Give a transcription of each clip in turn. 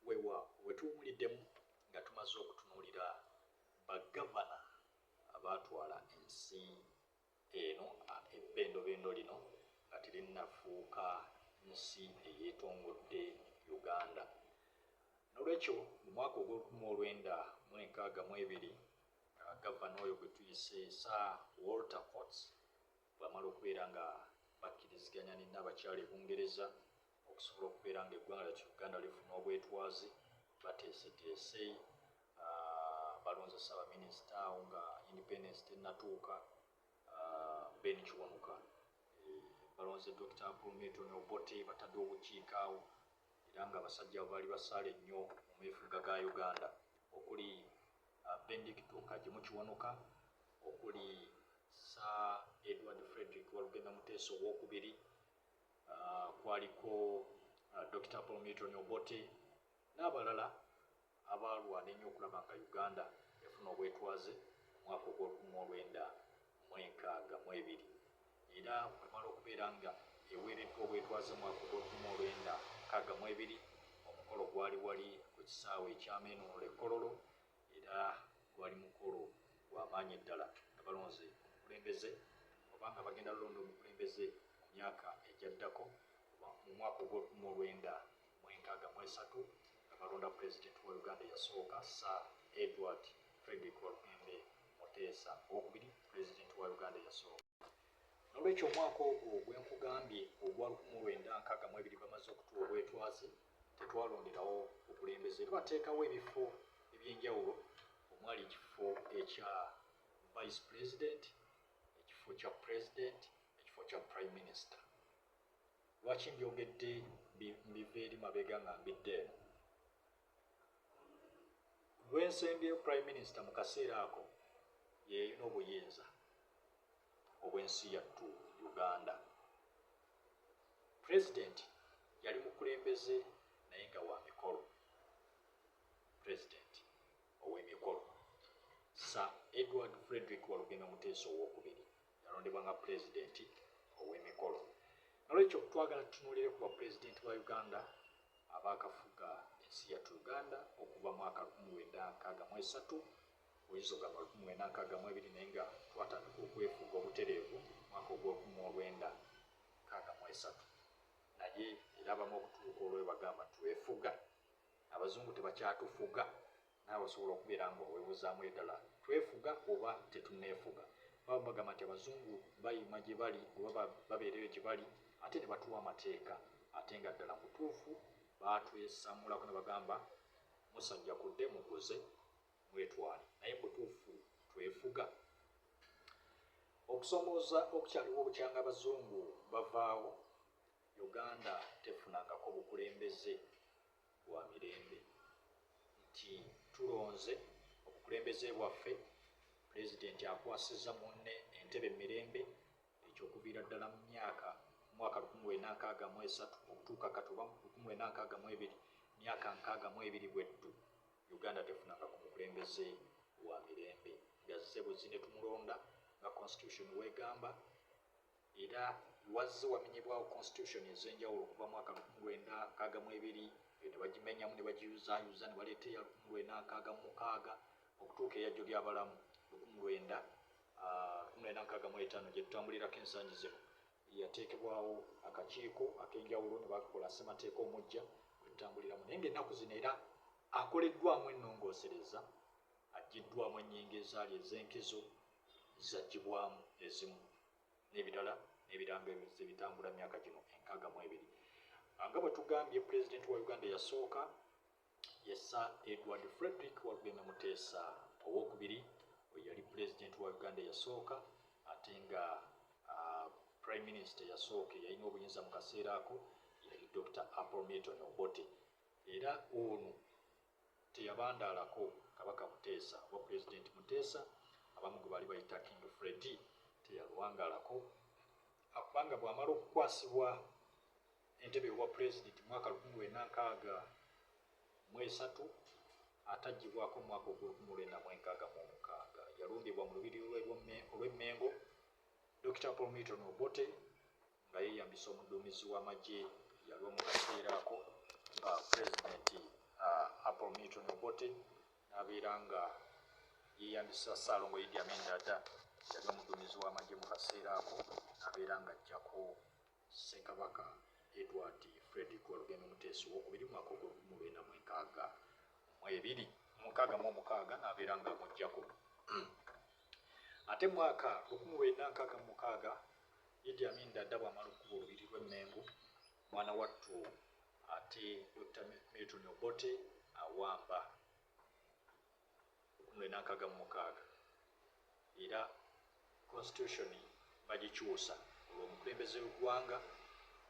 Weewaawo, we tuwuliddemu nga tumaze okutunuulira ba Gavana abaatwala ensi eno ebbendobendo lino nga terinnafuuka nsi eyeetongodde Uganda. N'olwekyo mu mwaka ogw'olukumi mu olwenda mu enkaaga mu ebiri Gavana oyo gwe tuyise Sir Walter Coates bw'amala okubeera nga bakkiriziganya ne Nnaabakyala e Bungereza, okusobola okubeera nga eggwanga lyattu uganda lifuna obwetwazi bateeseteese ah, balonze ssaabaminisita awo nga independence tenatuuka ah, ben kiwanuka eh, balonze dr pulmeton obote batadde obukiika awo era nga abasajja baali basaale nnyo mu meefuga ga uganda okuli ah, bendicto kagimu kiwanuka okuli sa edward frederick walugenda muteesa owokubiri uh, kwaliko uh, Dr. Paul Milton Obote n'abalala abaalwana ennyo okulaba nga Uganda efuna obwetwaze omwaka ogw'olukumi olwenda mu enkaaga mu ebiri era wemala okubeera nga eweereddwa obwetwaze omwaka ogw'olukumi olwenda nkaaga mu ebiri omukolo gwali wali ku kisaawe ekyamenuula ekkololo era gwali mukolo gwa maanyi ddala nga balonze omukulembeze oba nga bagenda lulonda omukulembeze mu myaka egyaddako mu mwaka ogw'olukumi lwenda mu enkaaga mu esatu nga balonda pulezidenti wa Uganda eyasooka Sir Edward Frederick Walugembe Muteesa owokubiri pulezidenti wa Uganda eyasooka. N'olwekyo omwaka ogwo gwe nkugambye ogwa lukumi lwenda nkaaga mu ebiri bamaze okutuwa obwetwaze Tetwalonderawo bukulembeze, twateekawo ebifo eby'enjawulo omwali ekifo ekya Vice President, ekifo kya President, ekifo kya Prime Minister. Lwaki mbyogedde mbiva eri mabega nga mbidde eno? Lwensembyeyo Prime Minister mu kaseera ako yeyalina obuyinza obw'ensi yattu Uganda. President yali mukulembeze naye nga wa mikolo. President ow'emikolo Sir Edward Frederick Walugembe Muteesa ow'okubiri yalondebwa nga President ow'emikolo. Nolwekyo twagala tutunulire ku bapulezidenti ba Uganda abaakafuga ensi yattu Uganda okuva mwaka lukumi lwenda nkaaga mu esatu Oyinza ogamba lukumi lwenda nkaaga mu ebiri naye nga twatandika okwefuga obutereevu mwaka ogwolukumi mu olwenda nkaaga mu esatu naye era abamu okutuuka olwoyo bagamba twefuga abazungu tebakyatufuga naawe osobola okubeera nga owebuzaamu edala twefuga oba tetuneefuga baba bagamba nti abazungu bayima gye bali oba babeereyo gye bali ate ne batuwa amateeka ate nga ddala mutuufu baatwesamulako ne bagamba musajja kudde mukuze mwetwale naye mubutuufu twefuga okusomooza okukyaliwo bukyanga abazungu bavaawo uganda tefunangako bukulembeze bwa mirembe nti tulonze obukulembeze bwaffe pulezidenti akwasiza munne entebe mumirembe ekyokuviira ddala mu myaka mwaka 1963 okutuuka kati oba 1962 myaka 62 Uganda tefunanga ku mukulembeze wa mirembe nga zze bwezzi netumulonda nga constitution wegamba era wazze wamenyebwawo constitution ezenjawulo okuva mwaka lukumi lwenda nkaaga mwebiri eyo nebagimenyamu nebagiyuzayuza nebaleeta eya lukumi lwenda nkaaga mumukaaga okutuuka eyajjo lyabalamu lukumi lwenda ah, lukumi lwenda nkaaga mwetaano gyetutambulirako ensangi zino Yateekebwawo akakiiko ak'enjawulo ne bakola ssemateeka omuggya gwe tutambuliramu naye ng'ennaku zino era akoleddwamu ennongoosereza, aggyiddwamu ennyingo ezaali ez'enkizo zaggyibwamu ezimu n'ebirala n'ebirango ebizze bitambula myaka gino enkaaga mu ebiri. Nga bwe tugambye, Pulezidenti wa Uganda eyasooka Ye Sir Edward Fredrick Walugembe Muteesa ow'okubiri oyo yali Pulezidenti wa Uganda eyasooka ate nga uh, Prime Minister eyasooka eyalina obuyinza mu kaseera ako yali Dr. Apple Milton Obote era ono teyabandaalako Kabaka Muteesa oba Pulezidenti Muteesa abamu gwe baali bayita King Freddy teyalwangaalako kubanga bw'amala okukwasibwa Entebe y'obwa Pulezidenti mwaka lukumi lwenda nkaaga mu esatu ataggyibwako mu mwaka ogw'olukumi lwenda mu enkaaga mu omukaaga. Yalumbibwa mu Lubiri lwe olw'e Mmengo, Dokita Paul Milton Obote nga yeeyambisa omuduumizi w'amagye eyaliwo mu kaseera ako nga Pulezidenti uh, Apollo Milton Obote n'abeera nga yeeyambisa Ssaalongo Idi Amin Dada yali omuduumizi w'amagye mu kaseera ako n'abeera ng'ajjako Ssekabaka Edward Fred ii Walugembe Muteesa ow'okubiri mu mwaka ogw'olukumu lwenda mu enkaaga mu ebiri mu nkaaga mu omukaaga n'abeera nga amuggyako. Ate mu mwaka lukumu lwenda nkaaga mu mukaaga Idi Amin Dada bw'amala okukuba olubiri lw'e Mmengo, mwana wattu ate Dokita Milton Obote awamba. lukumi lwenda nkaaga mu mukaaga era constitution bagikyusa olwo omukulembeze w'eggwanga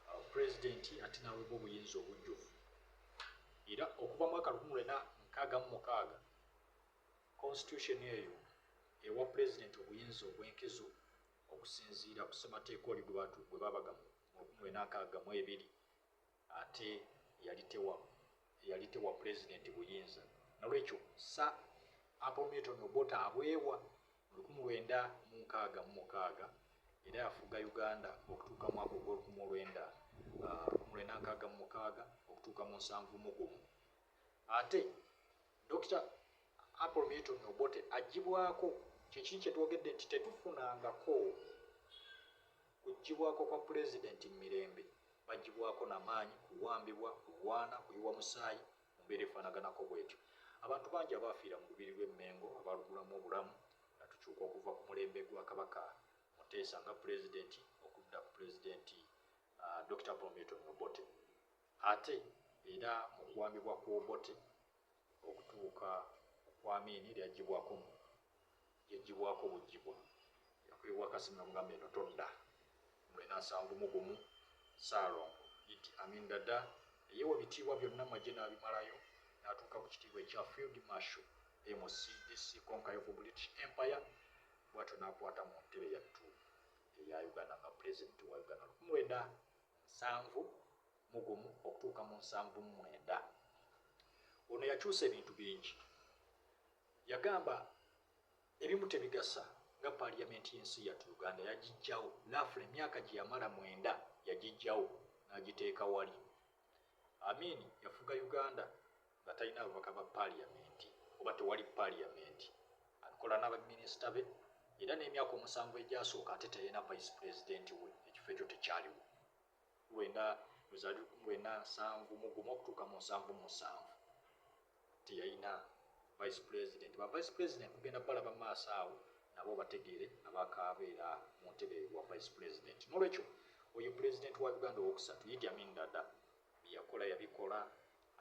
uh, pulezidenti ate n'awebwa obuyinza obujjuvu era okuva mwaka lukumi lwena nkaaga mu mukaaga constitution eyo ewa pulezidenti obuyinza obw'enkizo okusinziira ku ssemateeka oli gwe baabaga mu lukumi lwena nkaaga mu ebiri Ate yali tewa yali tewa Pulezidenti buyinza nolwekyo Sir Apple Milton Obote abwewa mu lukumi lwenda mu nkaaga mu mukaaga era yafuga Uganda okutuuka mwaka ogw'olukumi olwenda lukumi lwenda nkaaga mu mukaaga okutuuka mu nsanvu mu gumu. Ate Dokita Apple Milton Obote agibwako kyekiri kyetwogedde nti tetufunangako Kuggyibwako kwa Pulezidenti mu mirembe, baggyibwako na maanyi, kuwambibwa, kulwana, kuyiwa musaayi, mu mbeera efaanaganako bw'etyo. Abantu bangi abaafiira mu Lubiri lw'e Mmengo abaalugulamu obulamu nga tukyuka okuva ku mulembe gwa Kabaka Muteesa nga Pulezidenti okudda ku Pulezidenti Dokita Paul Milton Obote ate era mu kuwambibwa kw'Obote okutuuka ku kwamini lyajjibwako mu yajjibwako bujjibwa yakuyiwa kasi namugamba eno todda mulina nsanvu mu gumu saalongo idi amin dada eyewa bitiibwa byonna maje n'abimalayo n'atuuka ku kitiibwa ekya field marshal mcdc conquer of british empire bwatyo n'akwata mu ntebe yattu eya uganda nga pulezidenti wa uganda lukumwenda nsanvu mu gumu okutuuka mu nsanvu mu mwenda. Ono yakyusa ebintu bingi. Yagamba ebimu tebigasa nga paaliyamenti y'ensi yattu Uganda yagijjawo laafula emyaka gye yamala mwenda yagijjawo n'agiteeka wali. Amin yafuga Uganda nga talina ababaka ba paaliyamenti oba tewali paaliyamenti. Abikola n'abaminisita be era n'emyaka omusanvu egyasooka ate teyalina vice pulezidenti we ekifo ekyo tekyaliwo. lwenda luzali lukumi lwenda nsanvu mugumu okutuuka mu nsanvu mu nsanvu teyalina vice president ba vice president kugenda balaba maaso awo nabo bategeere abakaabeera mu ntebe wa vice president nolwekyo oyo president wa uganda owokusatu idi amin dada byeyakola yabikola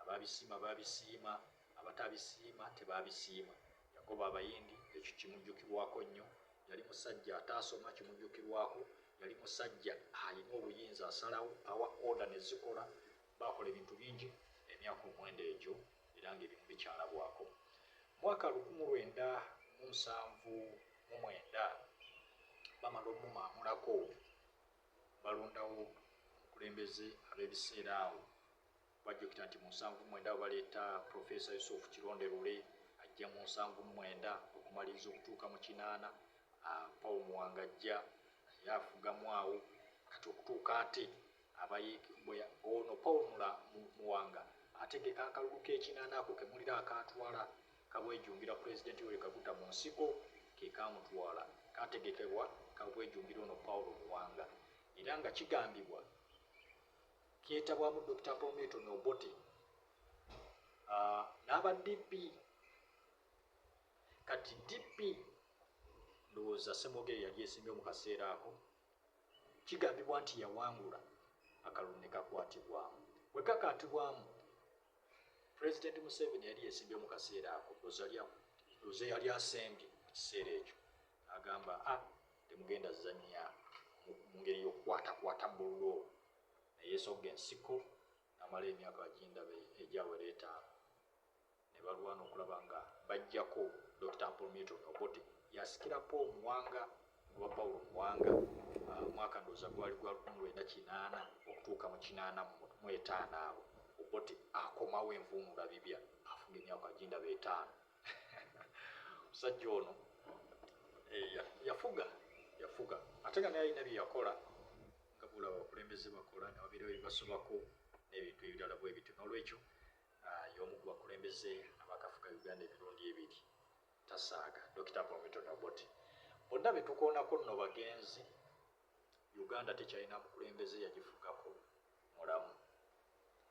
Abaabisiima baabisiima, abataabisiima tebaabisiima. Yakobo Abayindi ekyo kimujjukirwako nnyo. Yali musajja ataasoma, kimujjukirwako. Yali musajja alina obuyinza, asalawo, awa oda ne zikola. Baakola ebintu bingi emyaka omwenda egyo, era ng'ebimu bikyalabwako. Mu mwaka lukumu lwenda mu nsanvu mu mwenda, bamala omumaamulako, balondawo omukulembeze ab'ebiseera awo. Bajjukira nti mu nsanvu mwenda baleeta Professor Yusuf Kironde Lule ajja mu nsanvu mwenda okumaliriza okutuuka mu kinaana ah, Paul Muwanga ajja naye afugamu awo kati okutuuka ate abayimbwe ono Paul Mula Muwanga ategeka akalulu k'ekinaana ako kemulira akaatwala kabwejumbira pulezidenti Yoweri Kaguta mu nsiko ke kaamutwala kaategekebwa kabwejumbira ono Paul Muwanga era nga kigambibwa kyetabwamu Dokita Prometon Obote ah, n'aba DP kati DP ndowooza Semogere yali esimbye mu kaseera ako kigambibwa nti yawangula akalulu ne kakwatibwamu bwe kakaatibwamu pulezidenti museveni yali yesimbye mu kaseera ako oze yali asembye mu kiseera ekyo agamba a ah, temugenda zanya mu ngeri yokukwatakwata bululu ne yeesogga ensiko n'amala emyaka agindaba egyawera etaano ne balwana okulaba nga baggyako Dokita Apollo Milton Obote y'asikira Paul Muwanga oba Paulo Muwanga omwaka uh, ndowooza gwali gwa lukumi lwenda kinaana okutuuka mu kinaana mu etaano awo Obote akomawo envuunula bibya afuga emyaka agindaba etaano musajja ono eh, yafuga yafuga ate nga naye alina byeyakola nga bula abakulembeze bakola nga babeerawo ebibasobako n'ebintu ebirala bwe bityo n'olwekyo ah, y'omu ku bakulembeze abakafuga uganda emirundi ebiri tasaaga dokita pomito noboti bonna betukoonako nno bagenzi Uganda tekyalina mukulembeze yagifugako mulamu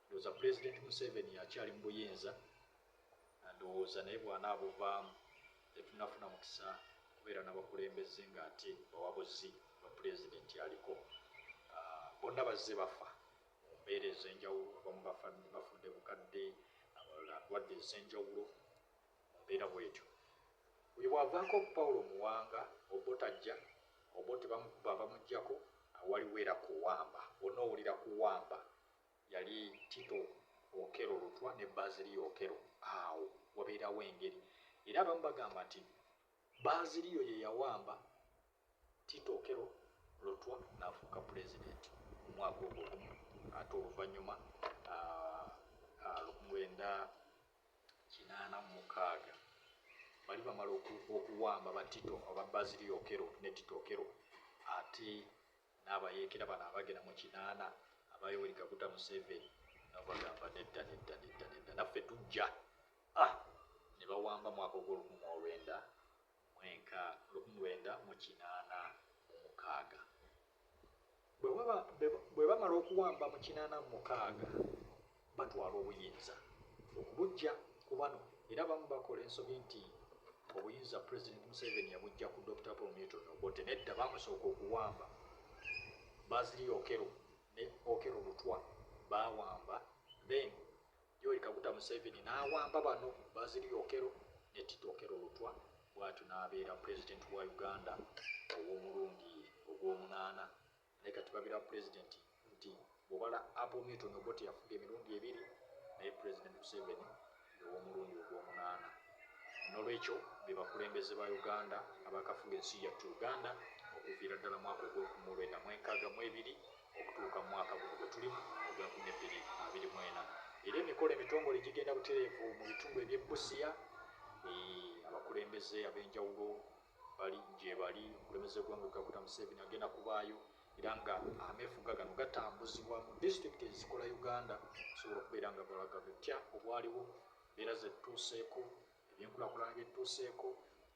ndowoza pulezidenti museveni akyali mubuyinza ndowoza naye bwana abuvaamu tetunafuna mukisa kubeera nabakulembeze nga ate bawabuzi ba pulezidenti aliko ah, bonna bazze bafa mumbeera ezenjawulo abamu bafudde bukadde abalala ndwadde ezenjawulo Mu mbeera bw'etyo, oyo bw'avaako Pawulo Muwanga, Obote ajja, Obote bamukuba bamuggyako, awo waliwo era kuwamba. Onoowulira kuwamba yali Tito Okello Lutwa ne Baaziriyo Okello, awo wabeerawo engeri. Era abamu bagamba nti Baaziriyo ye yawamba Tito Okello Lutwa n'afuuka Pulezidenti mu mwaka ogwo gumu ate oluvannyuma lwenda kinaana mu mukaaga bali bamala okuwamba ba Tito aba Bazili Okello ne Tito Okello ate n'abayeekera bano abagera mu kinaana aba Yoweri Kaguta Museveni nabagamba nedda nedda nedda nedda naffe tujja ah, ne bawamba mwaka ogw'olukumu olwenda Mwenka lukmwenda mu kinaana mu mukaaga. Bwe baba, be, bwe bamala okuwamba mu kinaana mu mukaaga, batwala obuyinza okubuggya ku bano, era abamu bakola ensobi nti obuyinza Pulezidenti Museveni yabuggya ku Dokita Paul Milton Obote. Nedda, baamusooka okuwamba Bazili Okello ne Okello Lutwa, baawamba then Yoweri Kaguta Museveni n'awamba bano Basil Okello ne Tito Okello Lutwa bwatyo n'abeera Pulezidenti wa Uganda ow'omulundi ogw'omunaana. Naye kati babira Pulezidenti nti bw'obala Apple Newton Obote yafuga emirundi ebiri naye Pulezidenti Museveni ye w'omulundi ogw'omunaana. N'olwekyo be bakulembeze ba Uganda abaakafuga ensi yattu Uganda okuviira ddala mwaka ogw'okumu lwenda mw'enkaaga mw'ebiri okutuuka mu mwaka guno gwe tulimu ogwa nkumi ebbiri abiri mu ena era emikolo emitongole gigenda butereevu mu bitundu eby'e Busia abakulembeze ab'enjawulo bali gyebali omukulembeze gwanga kaguta museveni agenda kubaayo era nga amefuga gano gatambuzibwa mu disitulikiti ezikola uganda osobola okubeera nga balaga butya obwaliwo mbeera zetutuuseeko Ebyenkulakulana byetutuuseeko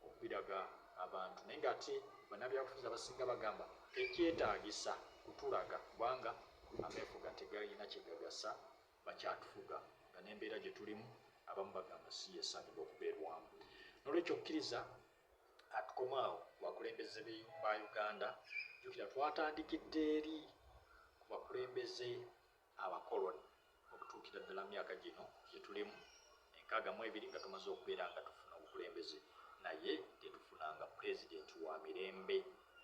okubiraga abantu naye ng'ate bannabyabufuzi abasinga bagamba tekyetaagisa kutulaga kubanga ameefuga tegalina kye gagasa bakyatufuga nga n'embeera gye tulimu abamu bagamba si yesaanidwa okubeerwamu. N'olwekyo okkiriza atukomaawo ku bakulembeze ba Uganda, jjukira twatandikidde eri ku bakulembeze abakoloni okutuukira ddala mu myaka gino gye tulimu enkaaga mu ebiri nga tumaze okubeera nga tufuna obukulembeze naye tetufunanga pulezidenti wa mirembe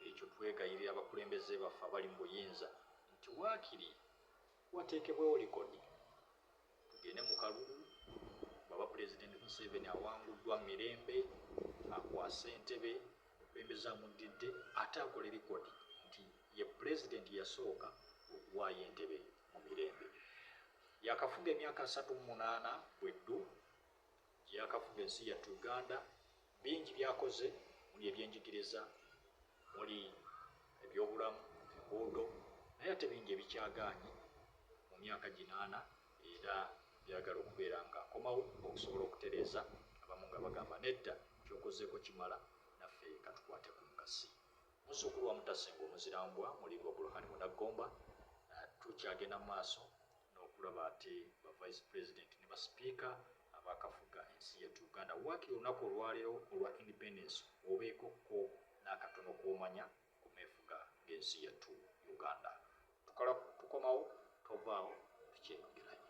ekyo twegayirira abakulembeze baffe abali mu buyinza nti waakiri wateekebwewo likodi tugende mu kalulu bwaba pulezidenti museveni awanguddwa mu mirembe akwasa entebe Omukulembeze amuddidde ate akole likodi nti ye Pulezidenti yasooka okuwaayo entebe mu mirembe. Yaakafuga emyaka asatu mu munaana bwe ddu gye yaakafuga ensi yattu Uganda. Bingi by'akoze omuli ebyenjigiriza, omuli ebyobulamu, enguudo naye ate bingi ebikyagaanyi mu myaka gino ana era byagala okubeera nga akomawo okusobola okutereeza abamu nga bagamba nedda kyokozeeko kimala naffe katukwate ku nkasi muzzukulu wa mutasinga omuzira mbwa mulindwa buluhani munaggomba tukyagenda mu maaso n'okulaba ate ba vice president ne basipiika abakafuga ensi yettu uganda waakiri olunaku olwaleero olwa independence obeeko ko n'akatono kwomanya ku meefuga g'ensi yattu Uganda. Tukala tukomawo tovaawo tukyeyogeranye.